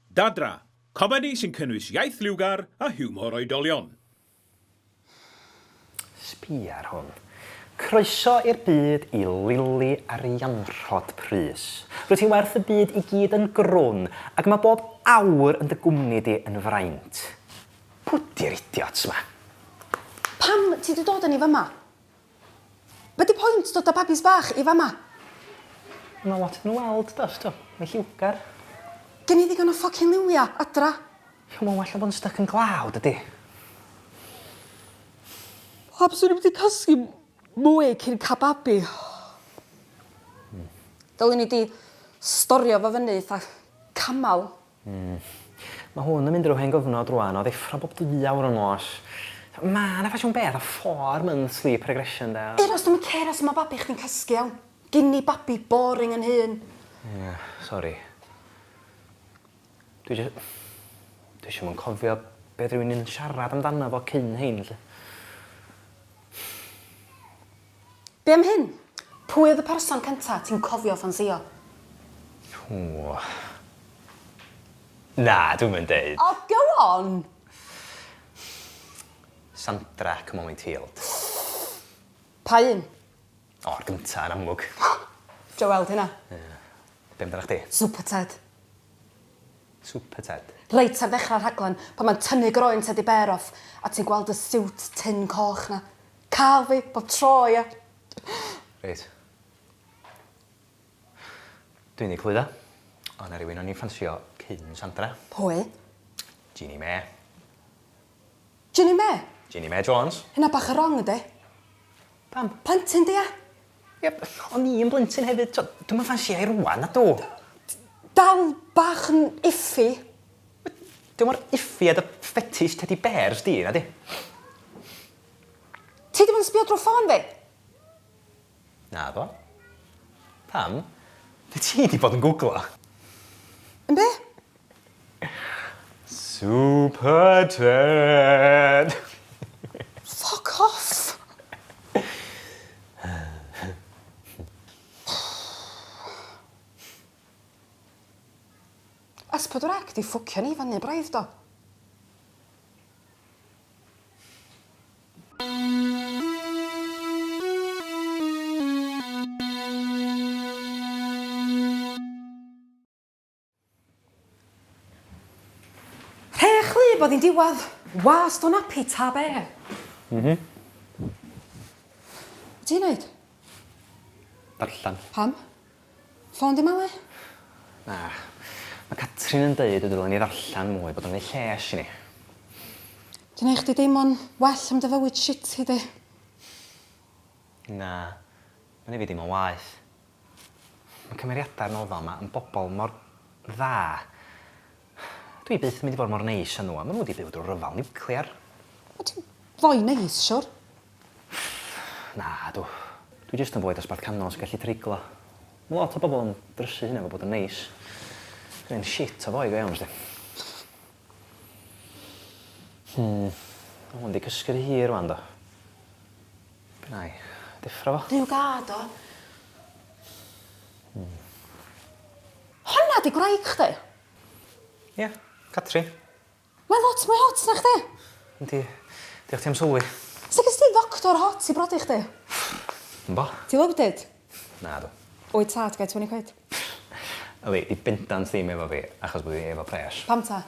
Dadra, comedi sy'n cynnwys iaith liwgar a hiwmor oedolion. Sbia ar hwn. Croeso i'r byd i Lili Arianrhod Prys. Rwyt ti'n werth y byd i gyd yn grwn ac mae bob awr yn dy gwmni di yn fraint. Pw di'r idiots ma? Pam ti 'di dod â ni fyma? Be di point dod a babis bach i fama? Ma lot yn weld does do? Mae lliwgar. Gen i ddigon o ffocin liwia adra. Come on well na bod yn styc yn glaw dydi? Pam swn i'm di cysgu mwy cyn cael babi? Dylwn i di storio fo fyny eitha camel. Hmm. Mae hwn yn mynd drwy hen gyfnod rwan o ddeffro bob dwy awr yn nos. Mae yna ffasiwn beth a four month sleep regression de. Eros dwi'm yn cero sut mae babi chdi'n cysgu iawn. Gin i babi boring yn hun. Ia, sori. Dwi jys- dwi jys 'im yn cofio be oedd rywun yn siarad amdano fo cyn hein 'lly. Be am hyn? Pwy oedd y person cynta ti'n cofio ffansïo? Ww. Na, dwi'm yn deud. O, go on! Sandra ac Molly Tealed. Pa un? O, yr gynta, yn amlwg. Dwi weld hynna. Ie. Be' amdanach chdi? Super Ted. Super Ted? Reit ar ddechrau'r rhaglen, pan mae'n tynnu groen Teddy Bear off a ti'n gweld y siwt tynn coch 'na. Cael fi bob tro ia. Reit. Dwi'n ddi cludo. O' 'na rywun o'n i'n ffansio cyn Sandra. Pwy? Jeanie May. Jeanie May? Jeanie May Jones. Hynna bach y' rong yndi? Pam? Plentyn 'di a? Ie o'n i yn blentyn hefyd t'o' dwi'm yn ffansio 'i rŵan nadw? Dal bach yn iffy. Be'? Dim mor iffy a dy fetish tedi bêrs di nadi? Ti ddim yn sbio drwy ffôn fi! Naddo. Pam? Be ti 'di bod yn gwglo? Yn be? Super Ted! Ffwc off! S4C 'di ffwcio ni fyny braidd do? Rhech wlyb oedd hi'n diwadd. Wast o nappy ta be. Mhm. Be ti'n neud? Darllen. Pam? Ffôn di Mali? Na. Mae Catrin yn deud y dylen ni ddarllen mwy, bod o'n neu lles i ni. Di neu chdi deimlo'n well am dy fywyd shitty di? Na. Mae'n neu fi deimlo'n waeth. Mae cymeriadau'r nofel ma yn bobl mor dda. Dwi byth yn mynd i fod mor neis â nhw, a maen nhw wedi byw drwy ryfel niwclear. O, ti'n foi neis, siwr? Na, dw. Dwi jyst yn foi dosbarth canol sy'n gallu treiglo. Mae lot o bobl yn drysu hynna efo bod yn neis. Dwi'n un shit o foi go iawn, sdi. Hmm, mae hwn wedi cysgu rhy hir rwan, do. Nai deffro fo. Duw gad o. Hmm. Honna 'di gwraig chdi? Ia, Catrin. Mae lot mwy hot na chdi. Yndi. Diolch ti am sylwi. Sut ges ti ddoctor hot i brodi chdi? Yn bo. Ti loaded? Nadw. Wyt tad get twenty quid? Yli, 'di bendant ddim efo fi, achos bo' fi efo pres. Pam ta?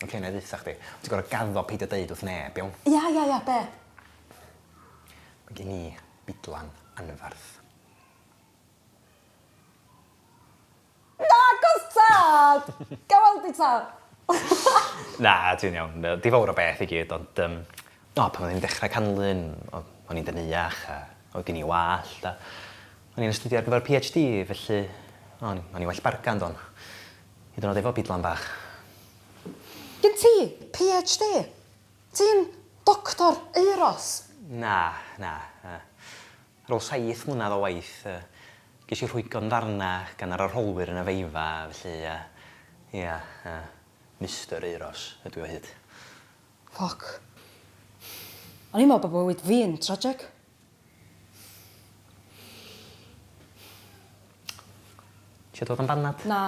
Oce, nai ddeutha chdi. Ti gor'o' gaddo peidio deud wrth neb, iawn? Ia ia ia, be'? Ma' gen i bidlan anferth. Nagos tad! Ga i weld 'i tad? Na, ti'n iawn. Yy, dim fowr o beth i gyd ond yym O, pan o'n i'n dechra canlyn, o- o'n i'n deneuach a oedd gin i wallt a o'n i'n astudio ar gyfer PhD, felly o- o'n i'n well bargan, do'n? Hyd yn oed efo bidlan bach. Gen ti PhD? Ti'n Doctor Euros? Na, na. Yy, ar ôl saith mlynedd o waith, yy, ges i rhwygo'n ddarna gan yr arholwyr yn y feiffa, felly yy, ia, yy, Mister Euros ydw i o hyd. Ffwc. O'n i'n me'wl bo' bywyd fi yn tragic. Isio dod yn banad? Na.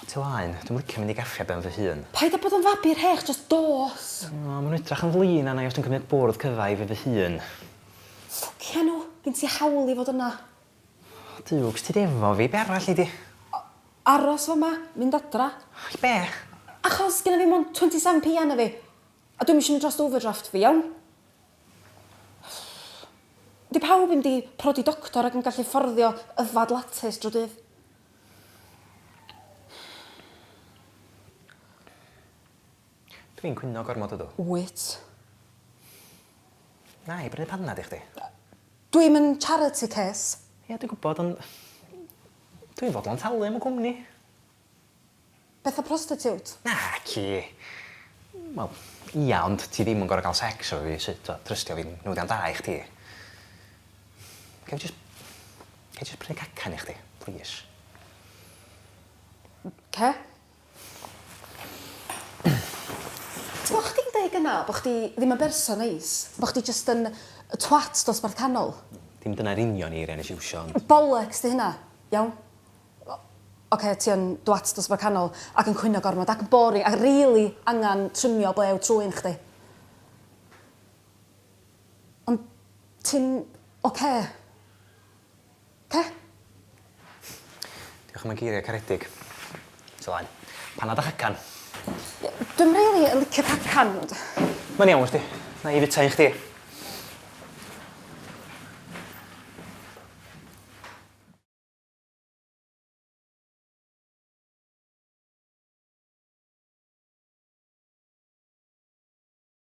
O ti laen. Dwi'm licio mynd i gaffi ben fy hun. Paid a bod yn fabi rhech, jyst dos! O, ma' nw'n edrach yn flin arna i os dwi'n cymryd bwrdd cyfa i fi fy hun. Ffwcia nhw! Gin ti hawl i fod yna. Dukes, ti di efo fi, be' arall nei di? A- aros fama, mynd adra. I be'? Achos gynna fi mond twenty seven P arna fi. A dwi'm isio mynd drost overdraft fi, iawn? Di pawb ddim di prodi doctor ac yn gallu fforddio yfad lattes dro dydd. Dw i'n cwyno gormod ydw? Wyt. Wna i brynu panad i chdi. Dw i'm yn charity case. Ie dwi'n gwybod ond dw i'n fodlon talu am y cwmni. Beth am prostitute? Naci. Wel, ia ond ti ddim yn gorfod cael sex efo fi sut tibod trystio fi'n newyddion da i chdi. Ga i jyst ga i jyst prynu cacan i chdi? Plîs. Oce. T'mo' chdi'n deu' gynna' bo' chdi ddim yn berson neis, bo' chdi jyst yn yy twat dosbarth canol. Dim dyna'r union eiria' nes i iwsio ond... Bollocks 'di hynna, iawn? O- oce ti yn dwat dosbarth canol ac yn cwyno gormod ac yn boring a rili angan trymio blew trwyn chdi. Ond ti'n oce? Pe? Diolch am y geiria caredig. Ti laen. Panad a chacan. Dwi'm rili yn licio cacan ond... Mae'n iawn wsti. Nai i fita un chdi.